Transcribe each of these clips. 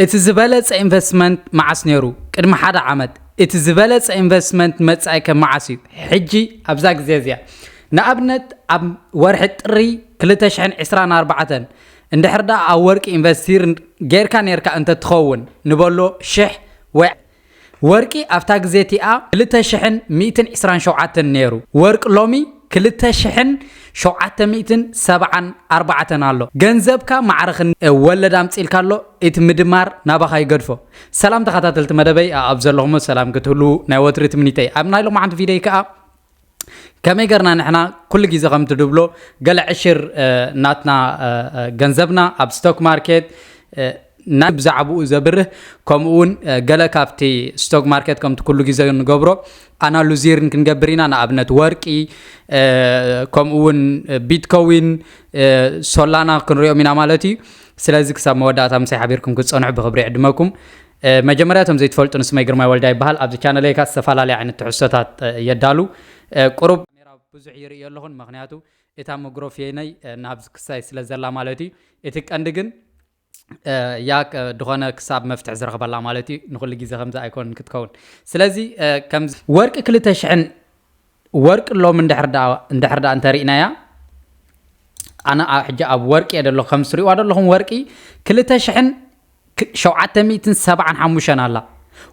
እቲ ዝበለጸ ኢንቨስትመንት መዓስ ነይሩ? ቅድሚ ሓደ ዓመት። እቲ ዝበለጸ ኢንቨስትመንት መጻኢከ መዓስ እዩ? ሕጂ ኣብዛ ግዜ እዚኣ። ንኣብነት ኣብ ወርሒ ጥሪ 2024 እንድሕር ደኣ ኣብ ወርቂ ኢንቨስት ጌርካ ኔርካ እንተትኸውን ንበሎ ሽሕ ወይ ወርቂ ኣብታ ግዜ እቲኣ ክልተ ሽሕን ሚእትን ዕስራን ሸውዓተን ነይሩ ወርቅ ሎሚ ክልተ ሽሕን ሸውዓተ ሚእትን ሰብዓን ኣርባዕተን ኣሎ ገንዘብካ ማዕረ ክን ወለድ ኣምጺልካ ኣሎ ኢቲ ምድማር ናባኻ ይገድፎ ሰላም ተኻታተልቲ መደበይ ኣኣብ ዘለኹሞ ሰላም ክትህልዉ ናይ ወትሪ ትምኒተይ ኣብ ናይ ሎማዓንቲ ቪደይ ከኣ ከመይ ገርና ንሕና ኩሉ ግዜ ከምቲ ድብሎ ገለ ዕሽር ናትና ገንዘብና ኣብ ስቶክ ማርኬት ናይ ብዛዕባኡ ዘብርህ ከምኡ እውን ገለ ካብቲ ስቶክ ማርኬት ከምቲ ኩሉ ግዜ ንገብሮ ኣናሉዚርን ክንገብር ኢና ንኣብነት ወርቂ ከምኡ እውን ቢትኮዊን ሶላና ክንሪኦም ኢና ማለት እዩ ስለዚ ክሳብ መወዳእታ ምሳይ ሓቢርኩም ክትፀንሑ ብክብሪ ዕድመኩም መጀመርያ እቶም ዘይትፈልጡኒ ስመይ ግርማይ ወልዳ ይበሃል ኣብዚ ቻነለይ ከኣ ዝተፋላለየ ዓይነት ትሕዝቶታት የዳሉ ቁሩብ ካሜራ ብዙሕ ይርእዮ ኣለኹን መኽንያቱ እታ መጉሮፍየይነይ ናብዚ ክሳይ ስለ ዘላ ማለት እዩ እቲ ቀንዲ ግን እያ ድኾነ ክሳብ መፍትሒ ዝረኽበላ ማለት እዩ ንኹሉ ግዜ ከምዚ ኣይኮንን ክትከውን ስለዚ ከም ወርቂ ክልተ ሽሕን ወርቂ ሎሚ እንድሕር ደኣ እንድሕር ደኣ እንተሪእናያ ኣነ ኣብ ሕጂ ኣብ ወርቂ እየ ደለኹ ከም ትሪእዋ ደለኹም ወርቂ ክልተ ሽሕን ሸውዓተ ሚእትን ሰብዓን ሓሙሽተን ኣላ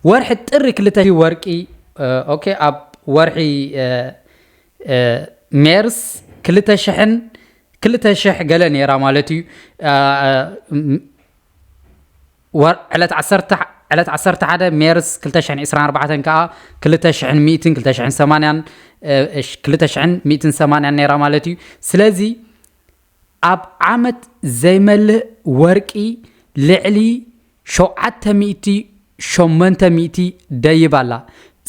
ወርሒ ጥሪ ክልተ ወርቂ ኦኬ ኣብ ወርሒ ሜርስ ክልተ ሽሕን ክልተ ሽሕ ገለ ነይራ ማለት እዩ ዕለት ዓሰርተ ሓደ ሜርስ ክልተ ሽሕን ዒስራን ኣርባዕተን ከኣ ክልተ ሽሕን ሚእትን ክልተ ሽሕን ሰማንያን ክልተ ሽሕን ሚእትን ሰማንያን ነይራ ማለት እዩ ስለዚ ኣብ ዓመት ዘይመልእ ወርቂ ልዕሊ ሸውዓተ ሚእቲ ሸመንተ ሚእቲ ደይብ ኣላ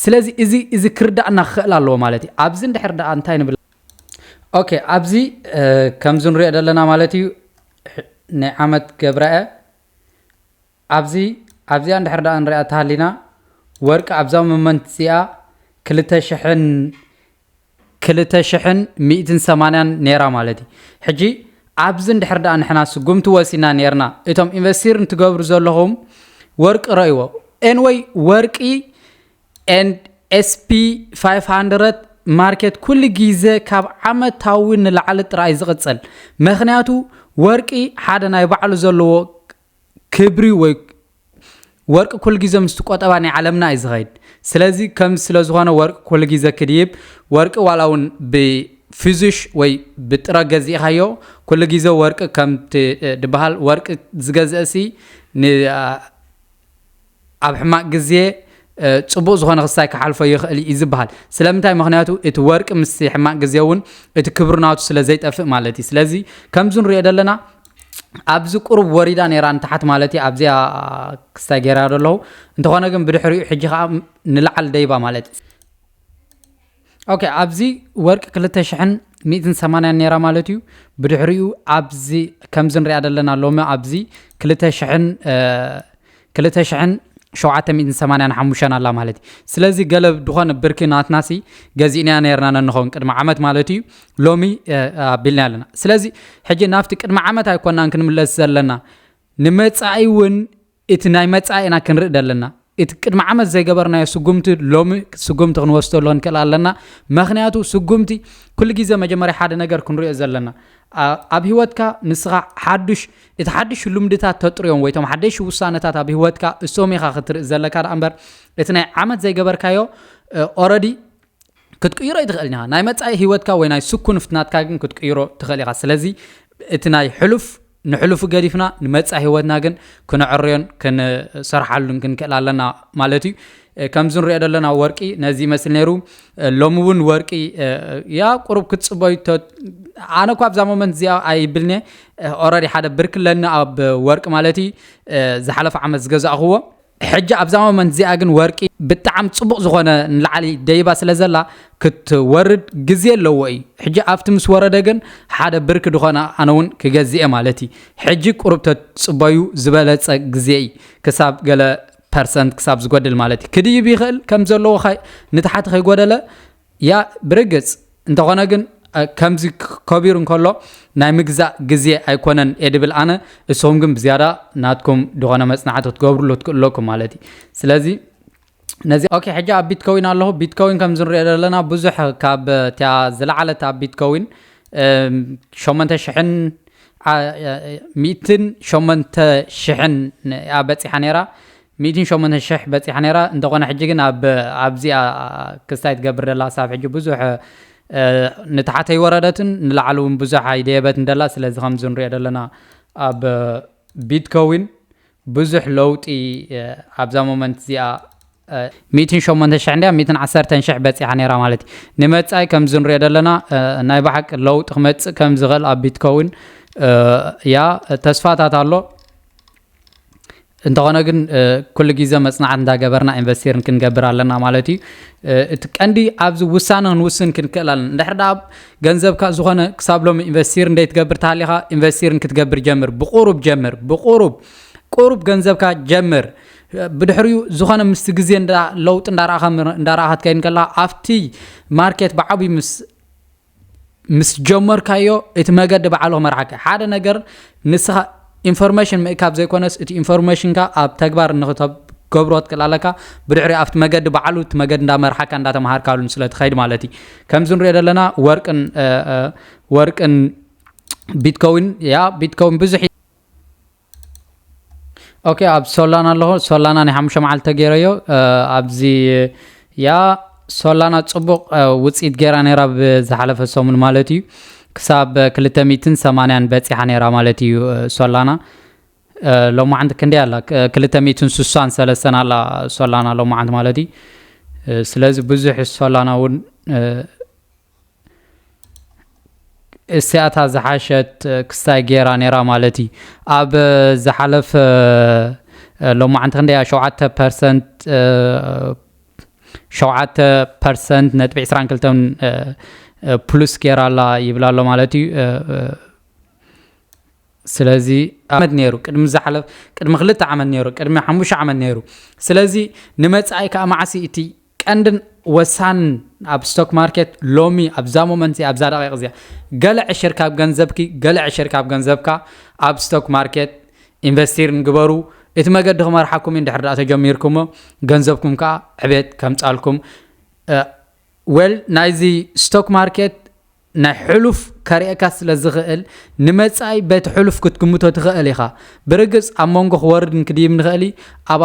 ስለዚ እዚ እዚ ክርዳእና ክኽእል ኣለዎ ማለት እዩ ኣብዚ እንድሕር ደኣ እንታይ ንብል ኦኬ ኣብዚ ከምዚ ንሪኦ ዘለና ማለት እዩ ናይ ዓመት ገብረአ ኣብዚ ኣብዚኣ እንድሕር ደኣ ንሪኣ ተሃሊና ወርቂ ኣብዛ ሞመንት እዚኣ ክልተ ሽሕን ክልተ ሽሕን ሚእትን ሰማንያን ነይራ ማለት እዩ ሕጂ ኣብዚ እንድሕር ደኣ ንሕና ስጉምቲ ወሲና ነርና እቶም ኢንቨስቲር እንትገብሩ ዘለኹም ወርቂ ረእይዎ ኤንወይ ወርቂ and SP500 ማርኬት ኩሉ ግዜ ካብ ዓመታዊ ንላዕሊ ጥራይ ዝቕጽል ምኽንያቱ ወርቂ ሓደ ናይ ባዕሉ ዘለዎ ክብሪ ወይ ወርቂ ኩሉ ግዜ ምስቲ ቆጠባ ናይ ዓለምና እዩ ዝኸይድ ስለዚ ከም ስለ ዝኾነ ወርቂ ኩሉ ግዜ ክድይብ ወርቂ ዋላ እውን ብፊዙሽ ወይ ብጥረ ገዚእኻዮ ኩሉ ግዜ ወርቂ ከምቲ ድበሃል ወርቂ ዝገዝእሲ ኣብ ሕማቅ ግዜ ፅቡቅ ዝኾነ ክስታይ ክሓልፎ ይኽእል እዩ ዝበሃል ስለምንታይ ምክንያቱ እቲ ወርቂ ምስ ሕማቅ ግዜ እውን እቲ ክብሪ ናቱ ስለ ዘይጠፍእ ማለት እዩ ስለዚ ከምዚ ንሪኦ ዘለና ኣብዚ ቁሩብ ወሪዳ ነይራ ንታሓት ማለት እዩ ኣብዚኣ ክስታይ ገይራ ደለኹ እንተኾነ ግን ብድሕሪኡ ሕጂ ከዓ ንላዓል ደይባ ማለት እዩ ኦኬ ኣብዚ ወርቂ ክልተ ሽሕን ሚእትን ሰማንያን ነይራ ማለት እዩ ብድሕሪኡ ኣብዚ ከምዚ ንሪኣ ዘለና ሎሚ ኣብዚ ክልተ ሽሕን ክልተ ሽሕን ሸውዓተ ሚእትን ሰማንያን ሓሙሽተን ኣላ ማለት እዩ ስለዚ ገለ ዝኾነ ብርኪ ናትናሲ ገዚእናያ ነርና ነንኸውን ቅድሚ ዓመት ማለት እዩ ሎሚ ኣቢልና ኣለና ስለዚ ሕጂ ናብቲ ቅድሚ ዓመት ኣይኮናን ክንምለስ ዘለና ንመፃኢ እውን እቲ ናይ መጻኢ ኢና ክንርኢ ዘለና። እቲ ቅድሚ ዓመት ዘይገበርናዮ ስጉምቲ ሎሚ ስጉምቲ ክንወስደሉ ክንክእል ኣለና። መክንያቱ ስጉምቲ ኩሉ ግዜ መጀመርያ ሓደ ነገር ክንሪኦ ዘለና ኣብ ህይወትካ ንስኻ ሓዱሽ እቲ ሓዱሽ ልምድታት ተጥርዮም ወይ ቶም ሓደሽ ውሳነታት ኣብ ህይወትካ እሶም ኢኻ ክትርኢ ዘለካ ደኣ እምበር እቲ ናይ ዓመት ዘይገበርካዮ ኦረዲ ክትቅይሮ ይትኽእል ኢኻ ናይ መጻኢ ህይወትካ ወይ ናይ ስኩን ፍትናትካ ግን ክትቅይሮ ትኽእል ኢኻ ስለዚ እቲ ናይ ሕሉፍ ንሕሉፉ ገዲፍና ንመጻኢ ህይወትና ግን ክነዕርዮን ክንሰርሓሉን ክንክእል ኣለና ማለት እዩ። ከምዚ ንሪኦ ዘለና ወርቂ ነዚ ይመስል ነይሩ ሎሚ እውን ወርቂ ያ ቁሩብ ክትፅበዩ ኣነ እኳ ኣብዛ ሞመንት እዚኣ ኣይብልኒ ኦረዲ ሓደ ብርኪ ኣለኒ ኣብ ወርቂ ማለት እዩ ዝሓለፈ ዓመት ዝገዛእኽዎ ሕጂ ኣብዛ ሞመንት እዚኣ ግን ወርቂ ብጣዕም ጽቡቕ ዝኾነ ንላዕሊ ደይባ ስለ ዘላ ክትወርድ ግዜ ኣለዎ እዩ ሕጂ ኣብቲ ምስ ወረደ ግን ሓደ ብርኪ ድኾነ ኣነ እውን ክገዝእ እየ ማለት እዩ ሕጂ ቁሩብ ተጽበዩ ዝበለጸ ግዜ እዩ ክሳብ ገለ ፐርሰንት ክሳብ ዝጎድል ማለት እዩ ክድይብ ይኽእል ከም ዘለዎ ንታሕቲ ከይጎደለ እያ ብርግጽ እንተኾነ ግን ከምዚ ከቢሩ እንከሎ ናይ ምግዛእ ግዜ ኣይኮነን እየ ድብል ኣነ እሱኹም ግን ብዝያዳ ናትኩም ዝኾነ መጽናዕቲ ክትገብርሉ ትክእሉ ኣለኩም ማለት እዩ ስለዚ ነዚ ኦኬ ሕጂ ኣብ ቢትኮዊን ኣለኹ ቢትኮዊን ከም ዝንሪኦ ዘለና ብዙሕ ካብ እቲያ ዝለዓለት ኣብ ቢትኮዊን ሸሞንተ ሽሕን ሚእትን ሸሞንተ ሽሕን እያ በፂሓ ነይራ ሚእትን ሸሞንተን ሽሕ በጺሓ ነይራ እንተኾነ ሕጂ ግን ኣብ ኣብዚኣ ክስታይ ትገብር ደላ ክሳብ ሕጂ ብዙሕ ንታሕተ ይወረደትን ንላዕሊ እውን ብዙሕ ኣይደየበትን ደላ ስለዚ ከምዚ ንሪኦ ዘለና ኣብ ቢትኮዊን ብዙሕ ለውጢ ኣብዛ ሞመንት እዚኣ ሚእትን ሸሞንተ ሽሕ እንዲያ ሚእትን ዓሰርተን ሽሕ በፂሓ ነይራ ማለት እዩ ንመፃኢ ከምዚ ንሪኦ ዘለና ናይ ባሓቂ ለውጢ ክመፅእ ከም ዝኽእል ኣብ ቢትኮዊን እያ ተስፋታት ኣሎ እንተኾነ ግን ኩሉ ግዜ መጽናዕት እንዳገበርና ኢንቨስቲርን ክንገብር ኣለና ማለት እዩ እቲ ቀንዲ ኣብዚ ውሳነ ክንውስን ክንክእል ኣለና እንድሕር ደኣ ገንዘብካ ዝኾነ ክሳብ ሎሚ ኢንቨስቲር እንደ ትገብር ተሃሊኻ ኢንቨስቲርን ክትገብር ጀምር ብቁሩብ ጀምር ብቁሩብ ቁሩብ ገንዘብካ ጀምር ብድሕሪኡ ዝኾነ ምስቲ ግዜ ለውጢ እንዳረኣኻ እንዳረኣኻ ትከይድ ከለኻ ኣብቲ ማርኬት ብዓብዩ ምስ ምስ ጀመርካዮ እቲ መገዲ በዓሉ ክመርሓካ ሓደ ነገር ንስኻ ኢንፎርሜሽን ምእካብ ዘይኮነስ እቲ ኢንፎርሜሽንካ ኣብ ተግባር ንክተገብሮ ትክእል ኣለካ ብድሕሪ ኣብቲ መገዲ በዓሉ እቲ መገዲ እንዳመርሓካ እንዳተምሃርካሉን ስለትኸይድ ማለት እዩ ከምዚ ንሪኦ ዘለና ወርቅን ወርቅን ቢትኮዊን ያ ቢትኮዊን ብዙሕ ኦኬ ኣብ ሶላና ኣለኹ ሶላና ናይ ሓሙሽተ መዓልቲ ተገይረዮ ኣብዚ ያ ሶላና ፅቡቕ ውፅኢት ገይራ ነይራ ብዝሓለፈ ሰሙን ማለት እዩ ክሳብ 280 በፂሓ ነይራ ማለት እዩ ሶላና ሎሚ ዓንቲ ክንደይ ኣላ 263 ኣላ ሶላና ሎሚ ዓንቲ ማለት እዩ ስለዚ ብዙሕ ሶላና እውን እስቲኣታ ዝሓሸት ክስታይ ገይራ ነይራ ማለት እዩ ኣብ ዝሓለፈ ሎማዓንቲ ክንደያ ሸውዓተ ፐርሰንት ሸውዓተ ፐርሰንት ነጥቢ ዕስራን ክልተን ፕሉስ ገይራ ኣላ ይብላ ኣሎ ማለት እዩ ስለዚ ዓመት ነይሩ ቅድሚ ዝሓለፍ ቅድሚ ክልተ ዓመት ነይሩ ቅድሚ ሓሙሽተ ዓመት ነይሩ ስለዚ ንመፃኢ ከዓ ማዓሲ እቲ ቀንድን ወሳንን ኣብ ስቶክ ማርኬት ሎሚ ኣብዛ ሞመንት እዚኣ ኣብዛ ደቂቕ እዚኣ ገለ ዕሽር ካብ ገንዘብኪ ገለ ዕሽር ካብ ገንዘብካ ኣብ ስቶክ ማርኬት ኢንቨስቲር ንግበሩ እቲ መገዲ ክመርሓኩም እዩ እንድሕር ደኣ ተጀሚርኩሞ ገንዘብኩም ከዓ ዕቤት ከምፃልኩም ወል ናይዚ ስቶክ ማርኬት ናይ ሕሉፍ ከርእካ ስለ ዝኽእል ንመጻኢ በቲ ሕሉፍ ክትግምቶ ትኽእል ኢኻ ብርግጽ ኣብ መንጎ ክወርድን ክድይብ ንኽእል ኣብ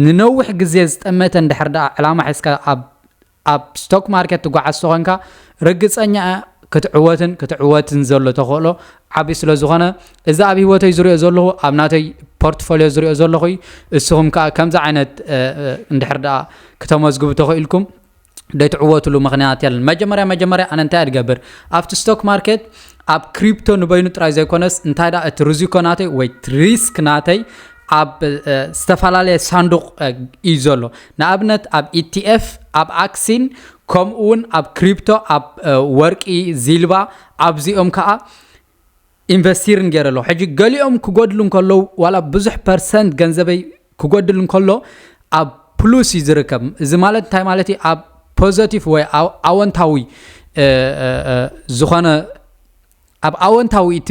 ንነዊሕ ግዜ ዝጠመተ እንድሕር ደኣ ዕላማ ሒዝካ ኣብ ኣብ ስቶክ ማርኬት ትጓዓዝ ተኾንካ ርግጸኛ ክትዕወትን ክትዕወትን ዘሎ ተኽእሎ ዓቢ ስለ ዝኾነ እዚ ኣብ ህይወተይ ዝሪኦ ዘለኹ ኣብ ናተይ ፖርትፎልዮ ዝሪኦ ዘለኹ እዩ። እስኹም ከኣ ከምዚ ዓይነት እንድሕር ደኣ ክተመዝግቡ ተኽኢልኩም ደይትዕወትሉ ምክንያት የለን መጀመርያ መጀመርያ ኣነ እንታይ ድገብር ኣብቲ ስቶክ ማርኬት ኣብ ክሪፕቶ ንበይኑ ጥራይ ዘይኮነስ እንታይ ዳ እቲ ርዚኮ ናተይ ወይ ሪስክ ናተይ ኣብ ዝተፈላለየ ሳንዱቕ እዩ ዘሎ ንኣብነት ኣብ ኢቲኤፍ ኣብ ኣክሲን ከምኡ እውን ኣብ ክሪፕቶ ኣብ ወርቂ ዚልባ ኣብዚኦም ከዓ ኢንቨስቲር ንገረ ኣለኹ ሕጂ ገሊኦም ክጎድሉ እንከለዉ ዋላ ብዙሕ ፐርሰንት ገንዘበይ ክጎድል እንከሎ ኣብ ፕሉስ እዩ ዝርከብ እዚ ማለት እንታይ ማለት እዩ ኣብ ፖዘቲቭ ወይ ኣወንታዊ ዝኾነ ኣብ ኣወንታዊ እቲ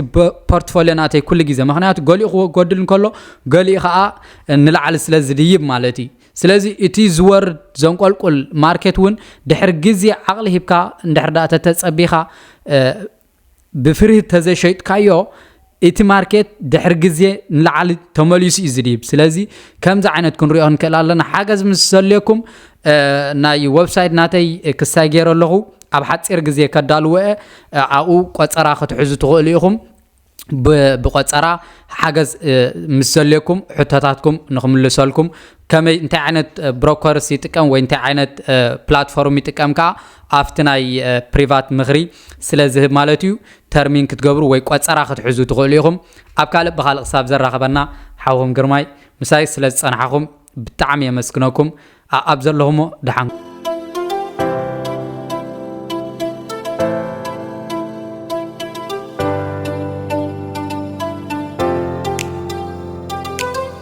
ፖርትፎሊዮ ናተይ ኩሉ ግዜ ምክንያቱ ገሊኡ ክጎድል እንከሎ ገሊኡ ከዓ ንላዕሊ ስለ ዝድይብ ማለት እዩ ስለዚ እቲ ዝወርድ ዘንቆልቁል ማርኬት እውን ድሕሪ ግዜ ዓቕሊ ሂብካ እንድሕር ዳ ተተፀቢኻ ብፍርሂ ተዘይሸይጥካዮ እቲ ማርኬት ድሕሪ ግዜ ንላዕሊ ተመሊሱ እዩ ዝድይብ ስለዚ ከምዚ ዓይነት ክንሪኦ ንክእል ኣለና ሓገዝ ምስ ዘልየኩም ናይ ወብሳይት ናተይ ክሳይ ገይረ ኣለኹ ኣብ ሓፂር ግዜ ከዳልወ ኣብኡ ቆፀራ ክትሕዙ ትኽእሉ ኢኹም ብቆፀራ ሓገዝ ምስ ዘልየኩም ሕቶታትኩም ንክምልሰልኩም ከመይ እንታይ ዓይነት ብሮከርስ ይጥቀም ወይ እንታይ ዓይነት ፕላትፎርም ይጥቀም ከዓ ኣብቲ ናይ ፕሪቫት ምኽሪ ስለ ዝህብ ማለት እዩ ተርሚን ክትገብሩ ወይ ቆፀራ ክትሕዙ ትኽእሉ ኢኹም ኣብ ካልእ ብካልእ ክሳብ ዘራኽበና ሓውኹም ግርማይ ምሳይ ስለ ዝፀናሕኹም ብጣዕሚ የመስግነኩም ኣብ ዘለኹሞ ደሓን